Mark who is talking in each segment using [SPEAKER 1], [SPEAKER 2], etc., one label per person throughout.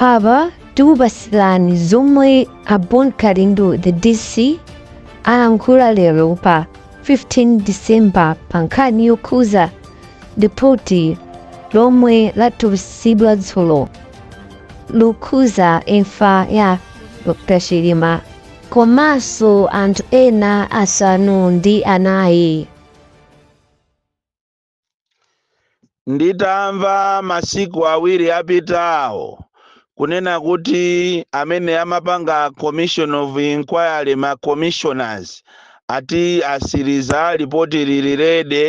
[SPEAKER 1] apa tikupatsirani zomwe a bon kalindo the dc alankhula lero pa 15 december pa nkhani yokhuza lipoti lomwe latulutsidwa dzulo lokhuza imfa ya dr chilima komanso anthu ena asanu ndi anayi
[SPEAKER 2] Nditamva masiku awiri apitawo kunena kuti amene amapanga commission of inquiry ma commissioners ati asiriza lipoti lili ready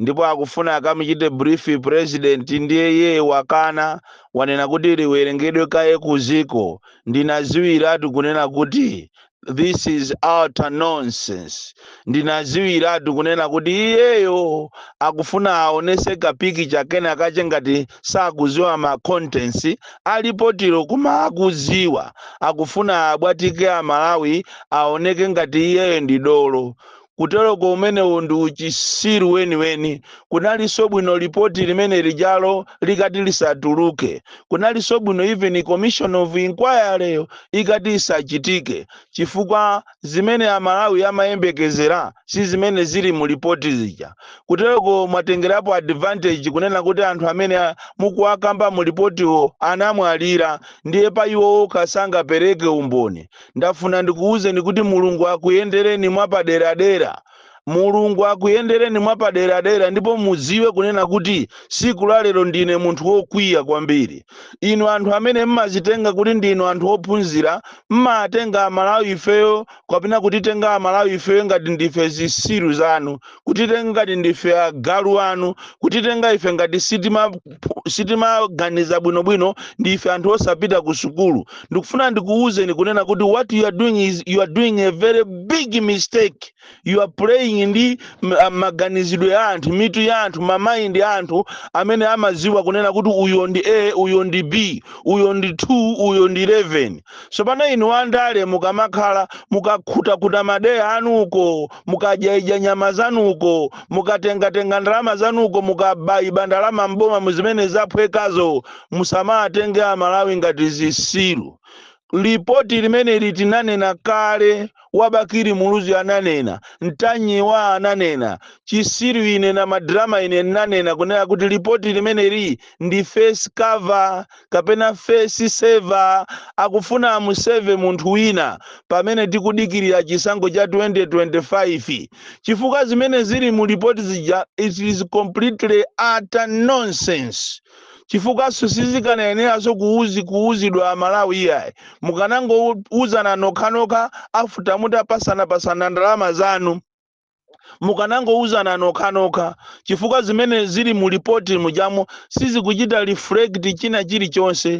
[SPEAKER 2] ndipo akufuna akamuchite brief president ndiye iye wakana wanena kuti liwerengedwe kaye kuziko ndinaziwiratu kunena kuti this is utter nonsense ndinaziwiratu kunena kuti iyeyo akufuna aonese ka picture kena kache ngati sakuziwa ma contents alipotiro koma akuziwa akufuna abwatike amalawi aoneke ngati iyeyo ndi dolo kuteroko umenewo ndi uchisiru weniweni. Kunalinso bwino lipoti limene lijalo likati lisatuluke. Kunalinso bwino even commission of inquiry yo ikati isachitike chifukwa zimene Amalawi amayembekezera si zimene zili mu lipoti zija. Kuteroko mwatengerapo advantage kunena kuti anthu amene mukuwakamba mu lipotiwo anamwalira ndiye pa iwo okha sangapereke umboni. ndafuna ndikuwuzeni kuti Mulungu akuyendereni mwapaderadera. Mulungu akuyendereni mwapaderadera ndipo mudziwe kunena kuti siku la lero ndine munthu wokwiya kwambiri. Inu anthu amene mmazitenga kuti ndinu anthu ophunzira mmatenga amalawi ifeyo kapena kutitenga amalawi ifeyo ngati ndife zisiru zanu kutitenga ngati ndife agalu anu kutitenga ife ngati sitimaganiza bwinobwino ndi ife anthu osapita ku sukulu ndikufuna ndikuwuzeni kunena kuti what you are doing is you are doing a very big mistake you are playing ndi maganizidwe ya anthu mitu ya anthu ma mind ya anthu amene amaziwa kunena kuti uyo ndi a uyo ndi b uyo ndi 2 uyo ndi 11 sopano inu andale mukamakhala mukakhutakhuta madeya anuko mukadyaidya nyama zanuko mukatengatenga ndalama zanuko mukabaiba ndalama mboma muzimene zaphwekazo musamatenge amalawi ngati zisiru lipoti limeneli tinanena kale wabakiri muluzi ananena ntanyiwa ananena chisiru ine ndi madrama ine ndinanena kunena kuti lipoti limeneli ndi face cover kapena face saver akufuna amuseve munthu wina pamene tikudikirira chisankho cha 2025 chifukwa zimene zili mu lipoti zija it is completely utter nonsense chifukwaso sizikanayeneranso kuuzi kuuzidwa amalawi iyayi mukanangouzana nokhanokha after mutapasanapasana ndalama zanu mukanangouzana nokhanokha chifukwa zimene zili mu lipoti mujamo sizikuchita reflect china chilichonse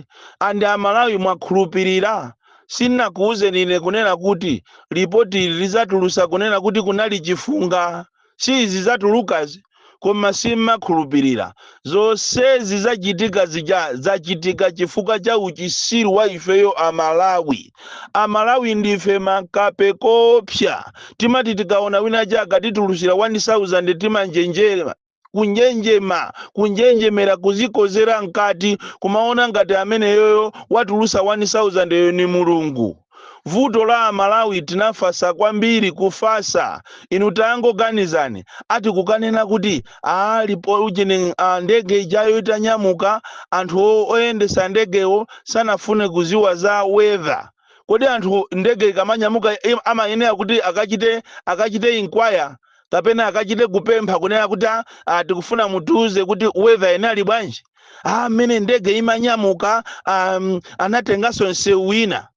[SPEAKER 2] and amalawi mwakhulupirira sinnakuuzeni ine kunena kuti lipoti lizatulusa kunena kuti kunali chifunga si izi zatulukazi koma simmakhulupirira. Zonsezi zachitika zija zachitika chifukwa cha uchisiru wa ifeyo a Malawi. A Malawi ndife makape koopsa. Timati tikaona wina aja akatitulusira 1000 timanjenjema. Kunjenjema, kunjenjemera kuzikozera mkati kumaona ngati ameneyoyo watulusa 1000 yo ni Mulungu. vuto la amalawi tinafasa kwambiri kufasa inu tangoganizani ati kukanena kuti aa lipo ujeni a ndege ijayo itanyamuka anthu o- oyendesa ndegewo sanafune kuziwa za weather kodi anthu ndege ikamanyamuka im- amayenera kuti akachite akachite inquire kapena akachite kupempha kunena kuti "Ah, ah, tikufuna mutiuze kuti weather inali bwanji ah, mmene ndege imanyamuka um, anatenganso msewu wina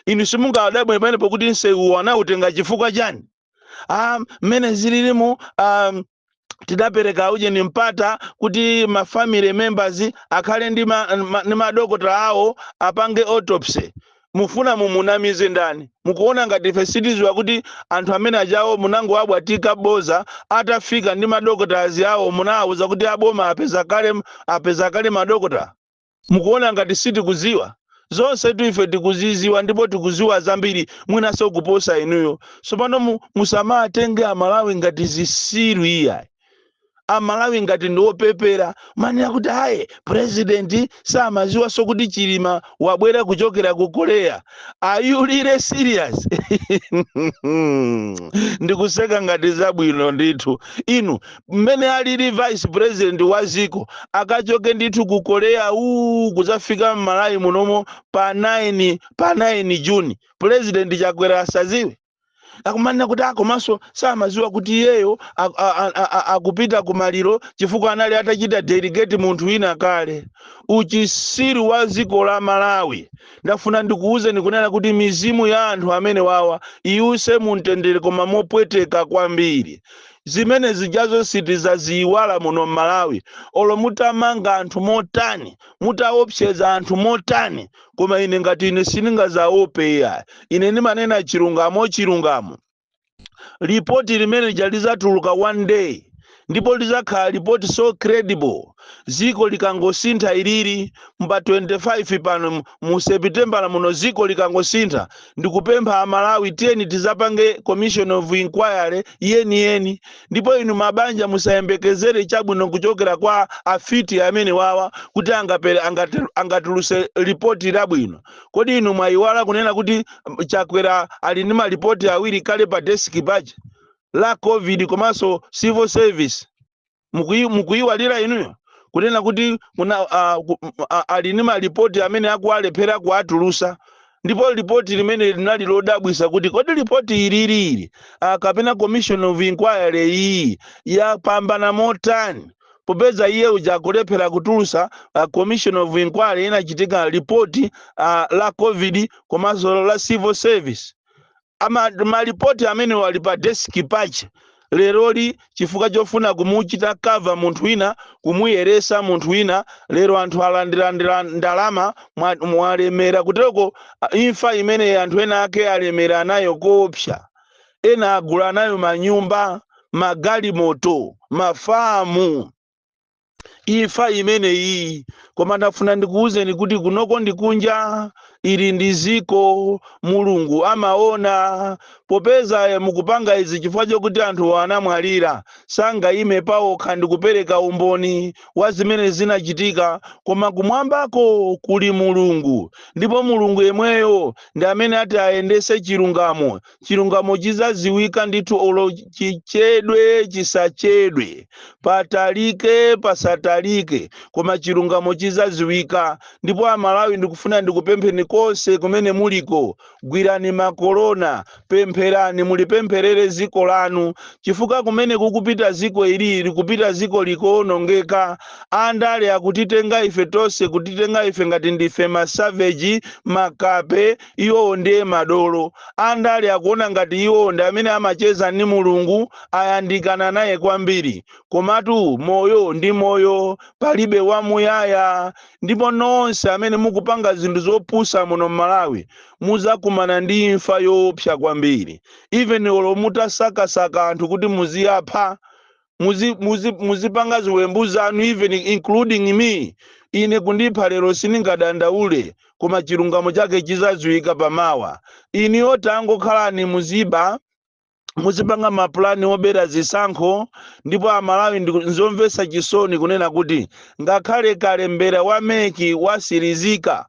[SPEAKER 2] inu simungawadabwe pamenepo kuti msewuwo anautenga chifukwa chani ah, mmene zililimu um, tidapereka ujeni mpata kuti ma family members akhale ndi ma- ma- ndi madokotala awo apange autopsy mufuna mumunamize ndani? Mukuona ngati ife sitiziwa kuti anthu amene ajawo munangowabwatika boza atafika ndi madokotala awo munawawuza kuti aboma apeza kale apeza kale madokotala? Mukuona ngati sitikuziwa? Zonsetu ife tikuziziwa ndipo tikuziwa zambiri mwinaso kuposa inuyo. Sopano musawatenge amalawi ngati zisiru iyayi. amalawi ngati ndi opepera kumanena kuti ayi president samaziwanso kuti chilima wabwera kuchokera ku korea are you really serious ndikuseka ngati zabwino ndithu inu mmene alili vice president wa ziko akachoke ndithu ku korea uu kuzafika mmalawi munomo pa 9 pa 9 juni president chakwera asaziwe akumanena kuti ah, komanso samaziwa kuti iyeyo a- a- a- a- a- akupita ku maliro chifukwa anali atachita delegate munthu wina kale uchisiru wa dziko la malawi ndafuna ndikuwuzeni kunena kuti mizimu ya anthu amene wawa iwuse mumtendere koma mopweteka kwambiri zimene zijazo sitizaziyiwala muno m'malawi olo mutamanga anthu motani mutaopseza anthu motani koma ine ngati ine siningazaope iya ine ndimanena chilungamo chilungamo lipoti limene lija lizatuluka one day ndipo lizakhala lipoti so credible ziko likangosintha ilili mba 25 pano mu- mu sepitembala muno ziko likangosintha ndikupempha amalawi tiyeni tizapange commission of inquiry yeni yeni ndipo inu mabanja musayembekezere chabwino kuchokera kwa afiti amene wawa kuti angapere angate- angatuluse lipoti labwino kodi inu mwayiwala kunena kuti mm, chakwera ali ni malipoti awiri kale pa desiki paja la covid komanso civil service Mukuyi- mukuyiwalira inuyo kunena kuti kuna, uh, ku, uh, ali ni malipoti amene akuwalephera kuwatulusa ndipo lipoti limene linali lodabwisa kuti kodi lipoti ilili ah, kapena commission of inquiry iyi yapambana motani popeza iye uja akulephera kutulusa uh, commission of inquiry inachitika lipoti uh, la covid komanso la civil service Ama, malipoti amenewo ali pa desiki paja leroli chifukwa chofuna kumuchita cover munthu wina kumuyeresa munthu wina lero anthu alandilandira ndalama mwa- mwalemera kuteroko a- imfa imene anthu ena ake alemera nayo koopsa ena agula nayo manyumba magalimoto mafamu imfa imeneyi koma ndafuna ndikuwuzeni kuti kunoko ndi kunja ili ndi ziko mulungu amaona popeza eh, mukupanga izi chifukwa chokuti anthu anamwalira sangayime paokha ndi kupereka umboni wa zimene zinachitika koma kumwambako kuli mulungu ndipo mulungu yemweyo ndi amene ati ayendese chilungamo chilungamo chizaziwika ndithu olo chichedwe chisachedwe patalike pasatalike koma chilungamo chizaziwika ndipo amalawi ndikufuna ndikupempheni konse kumene muliko gwirani makolona pempherani mulipempherere ziko lanu chifukwa kumene kukupita ziko ilili kupita ziko likuonongeka andale akutitenga ife tonse kutitenga ife ngati ndife masaveji makape Iwowo ndiye madolo. Andale akuona ngati iwowo ndi amene amacheza ndi Mulungu, ayandikana naye kwambiri. Komatu moyo ndi moyo, palibe wamuyaya. Ndipo nonse amene mukupanga zinthu zopusa muno m'Malawi muzakumana ndi imfa yoopsa kwambiri. Even olo mutasakasaka anthu kuti muziapha, muzi, muzi, muzipanga ziwembu zanu even including me ine kundipha lero sindingadandaule koma chilungamo chake chizadziwika pamawa inuyo tangokhalani muziba muzipanga mapulani obera zisankho ndipo amalawi ndi- nzomvetsa chisoni kunena kuti ngakhale kalembera wa meki wasirizika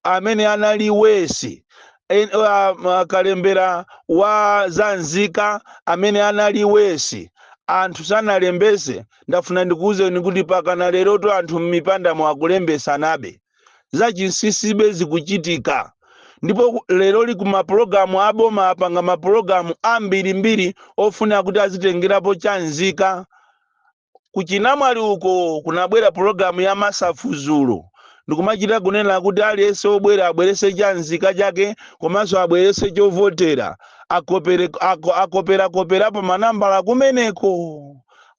[SPEAKER 2] amene anali wesi en- ah, ma- kalembera wa za nzika amene anali wesi anthu sanalembese ndafuna ndikuwuzeni kuti mpakana lerotu anthu m'mipandamo akulembesanabe zachinsisibe zikuchitika ndipo ku- leroli kumapulogalamu aboma apanga mapulogalamu ambirimbiri ofuna kuti azitengerapo chanzika kuchinamwali uko kunabwera pulogalamu ya masafu dzulo, ndikumachita kunena kuti aliyense wobwera abweretse cha nzika chake komanso abweretse chovotera, akopere, ako, akoperakoperapo manambala kumeneko,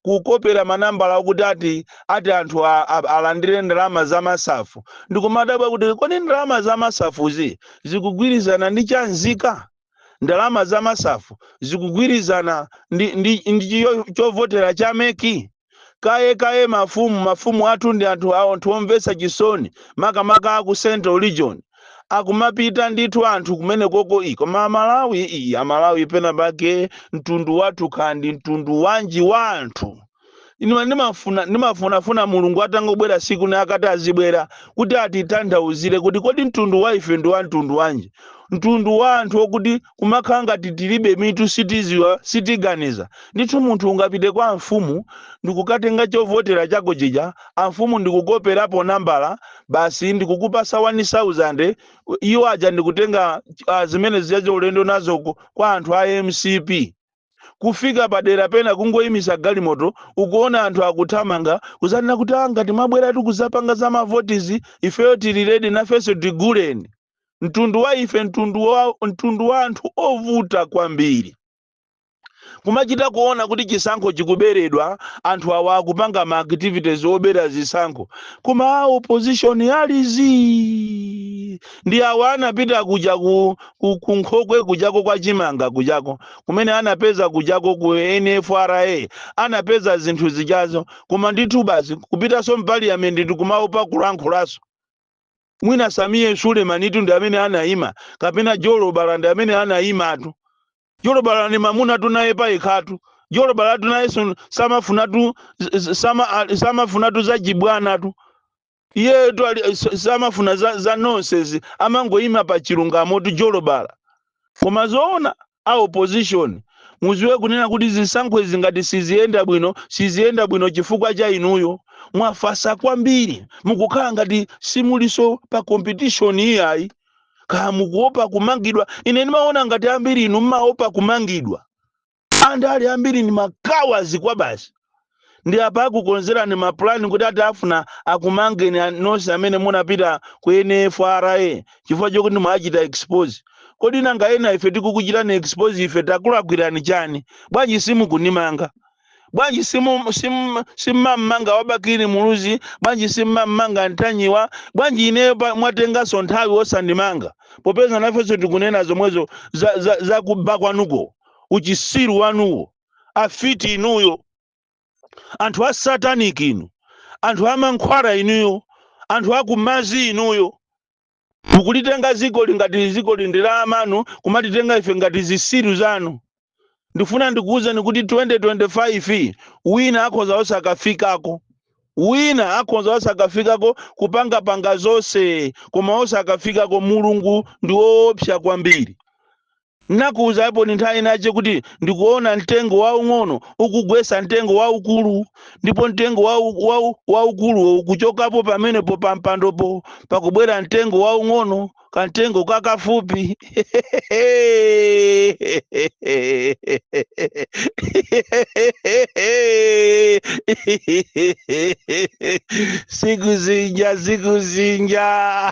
[SPEAKER 2] kukopera manambala okuti ati, ati anthu a, a, alandire ndalama za masafu. Ndikumadabwa kuti kodi ndalama za masafuzi zikugwirizana ndi cha nzika? ndalama za masafu zikugwirizana ndi, ndi, ndi chiyo- chovotera cha meki kaye kaye mafumu mafumu athu ndi anthu awo anthu omvetsa chisoni makamaka aku central region akumapita ndithu anthu kumenekoko iyi koma amalawi iyi amalawi pena pake mtundu wathu kaya ndi mtundu wanji wa anthu Ine ndimafuna ndimafunafuna Mulungu atangobwera tsiku lina akati azibwera kuti atitanthauzire kuti kodi mtundu wa ife ndi wa mtundu wanji, mtundu wa anthu okuti kumakhala ngati tilibe mitu sitiziwa sitiganiza. Ndithu munthu ungapite kwa amfumu ndikukatenga chovotera chako chija amfumu ndikukoperapo nambala basi ndikukupasa wani sauzande iwo aja ndikutenga ah, zimene zija ulendo nazo ku- kwa anthu a mcp. kufika padera pena kungoyimisa galimoto ukuona anthu akuthamanga kuzanena kuti ah ngati mwabweratu kuzapanga za mavotizi ifeyo tili ready nafenso tiguleni mtundu wa ife mtundu wa, mtundu wa anthu ovuta kwambiri kumachita kuona kuti chisankho chikuberedwa anthu awa akupanga ma activities obera zisankho koma a opposition ali zii ndi awa anapita kuja ku, ku, ku nkhokwe kujako ya chimanga kujako kumene anapeza kujako ku NFRA anapeza zinthu zijazo koma ndithu basi kupitanso mpaliyamenti ndikumaopa kulankhulaso mwina Sameer Sulemanitu ndi amene anaima kapena Jolobala ndi amene anaimatu Jolobala ndi mamunatu naye payekhatu Jolobalatu nayenso samafunatu samafunatu zachibwanatu iyeyotu ali- s- samafuna za, za nonsense amangoyima pa chilungamotu Jolobala koma zoona a opposition muziwe kunena kuti zisankho izi ngati siziyenda bwino siziyenda bwino chifukwa cha inuyo mwafasa kwambiri mukukhala ngati simuliso pa competition iyayi kaya mukuopa kumangidwa ine ndimaona ngati ambiri inu mmaopa kumangidwa Andale ambiri ndi ma cowards kwabasi. Ndi apa akukonzerani ma plan kuti ati afuna akumangeni a- nonse amene munapita ku NFRA chifukwa chokuti mwachita expose. Kodi nanga ena ife tikukuchitani expose ife takulakwirani chani? Bwanji simukunimanga? Bwanji simu sim simmamanga wa Bakili Muluzi? Bwanji simmamanga Ntanyiwa? Bwanji ineyo pa- mwatenganso nthawi osandimanga? Popeza nafenso tikunena zomwezo za, za, za kuba kwanuko. uchisiru wanuwo afiti inuyo anthu a satanic inu anthu amankhwala inuyo anthu akumazi inuyo mukulitenga zikoli ngati zikoli ndi la amanu kumatitenga ife ngati zisiru zanu ndifuna ndikuwuzeni kuti 2025 wina akhoza osakafikako wina akhoza osakafikako kupangapanga zonse koma osakafikako mulungu ndi woopsa kwambiri N'nakuuzaponi nthawi inace kuti ndikuona mtengo waung'ono ukugwetsa mtengo waukulu, ndipo mtengo waukuluwo ukucokapo pamenepo pa mpandopo, pakubwela mtengo waung'ono, kamtengo kakafupi. Siku zinja, siku zinja.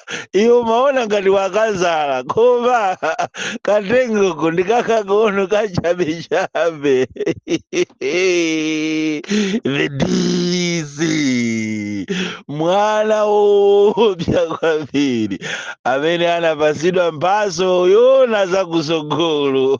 [SPEAKER 2] iwe umaona ngati wakazala koma katengoko ndi kakang'ono kachabechabe the dc mwana woopsa kwambiri amene anapasidwa mphaso yoona zakusogolo